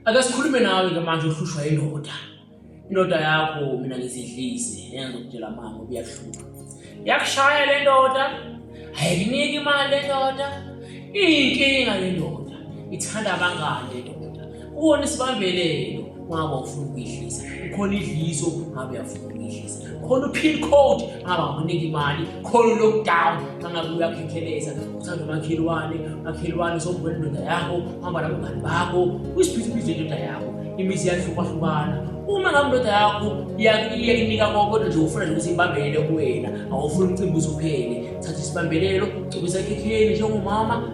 ake sikhulume nawe ke manje uhlushwa indoda indoda yakho mina ngizidlise yenza ukutshela mama ubuyahlupha yakushaya le ndoda ayikuniki imali le ndoda iyinkinga le ndoda ithanda abangane le ndoda kuwona isibambelelo wabo ufuna ukuyidlisa ukhona idliso ngabe uyafuna ukuyidlisa khona upin code angabakunika imali khona lockdown angabe uyakhekheleza uthanda umakhelwane makhelwane sombona indoda yakho hamba nabangani bakho uyisibhizibhizi indoda yakho imizi yahlukahlukana uma ngabe indoda yakho iyakunika konke kodwa nje ufuna nje ukuthi ibambelele kuwena awufuni umcimbi uzophele thatha isibambelelo cobisa ekhekheni njengomama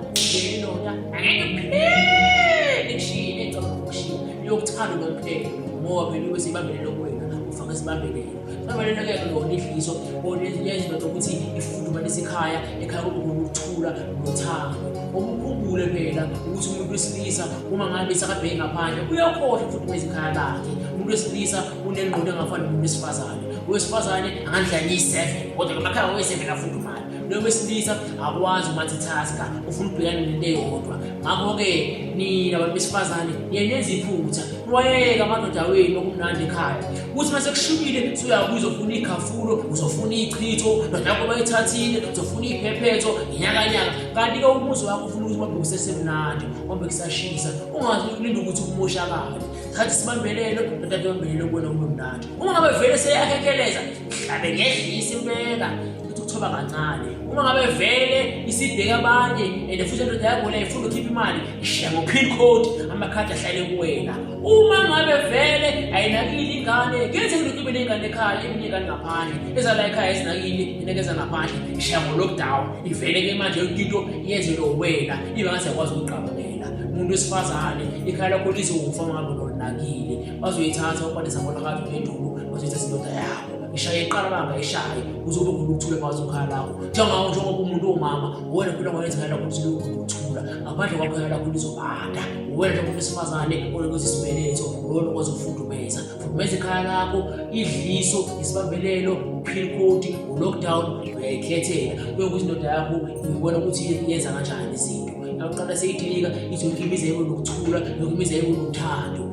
indoda angeke phele shini ecabanga ukushiya iyokuthanda unomphele ngoba phela ube seyibambelele kuwena Faka isibambelelo. Isibambelelo-ke lona idliso onezinye izinto zokuthi ifudumanise ikhaya, ekhaya kube ngokuthula nothando. Okukhumbule phela ukuthi umuntu wesilisa uma ngabe sakabheki ngaphandle uyakhohlwa ukufudumeza ikhaya lakhe. Umuntu wesilisa unengqondo engafani nomuntu wesifazane. Owesifazane angandlala iyi-seven kodwa ngamakhaya oweseven afudumala. lo wesilisa akwazi umatithaska ufuna ubhekane nento eyodwa ngakho-ke nina bantu besifazane niyenenza iphutha niwayeke amadoda wenu okumnandi ekhaya kuthi uma sekushubile suyabuya uzofuna ighafulo uzofuna ichitho nodakho bayithathile uzofuna iphephetho ngenyakanyaka kanti-ke umuzi wakho ufuna ukuthi babe kusesemnandi ombe kusashisa ungazi ulinda ukuthi kumoshakale thatha isibambelelo nodade bambelelo kubona kube mnandi uma ngabe vele seyakhekeleza hlabe ngedlisa impela ukuthi uthoba kancane uma ngabe vele isibheka abanye and futhi indoda yakho le ifuna ukhipha imali ishiya ngo-pin code amakhadi ahlale kuwena uma ngabe vele ayinakile ingane kuyenzeka ukuthi ube ney'ngane ekhaya eminye ingane ngaphandle ezala ekhaya ezinakile inekeza ngaphandle ishiya ngo-lockdown ivele ke manje yonke into yenzelwe wena ibe ngathi yakwazi ukuqabukela umuntu wesifazane ikhaya lakho lizokufa ngabe lonakile bazoyithatha ukwanisa ngona ngathi uPhenduku bazoyithatha indoda yakho ishaye iqala banga ishaye kuzobe khona ukuthula kwazi ukhala lakho njengawo njengoba umuntu omama wena phela ngayenzela ukuthi lokhu ukuthula ngaphandle kwakho yala khona izobanda wena njengoba wesifazane olokwenza isibeletho wena okwazi ukufudumeza fudumeza ikhaya lakho idliso isibambelelo uphil code ulockdown uyayikhethela kuye ukuthi indoda yakho uyibona ukuthi yenza kanjani izinto yakuqala seyidilika izokhimizeko nokuthula nokhimizeko nokuthando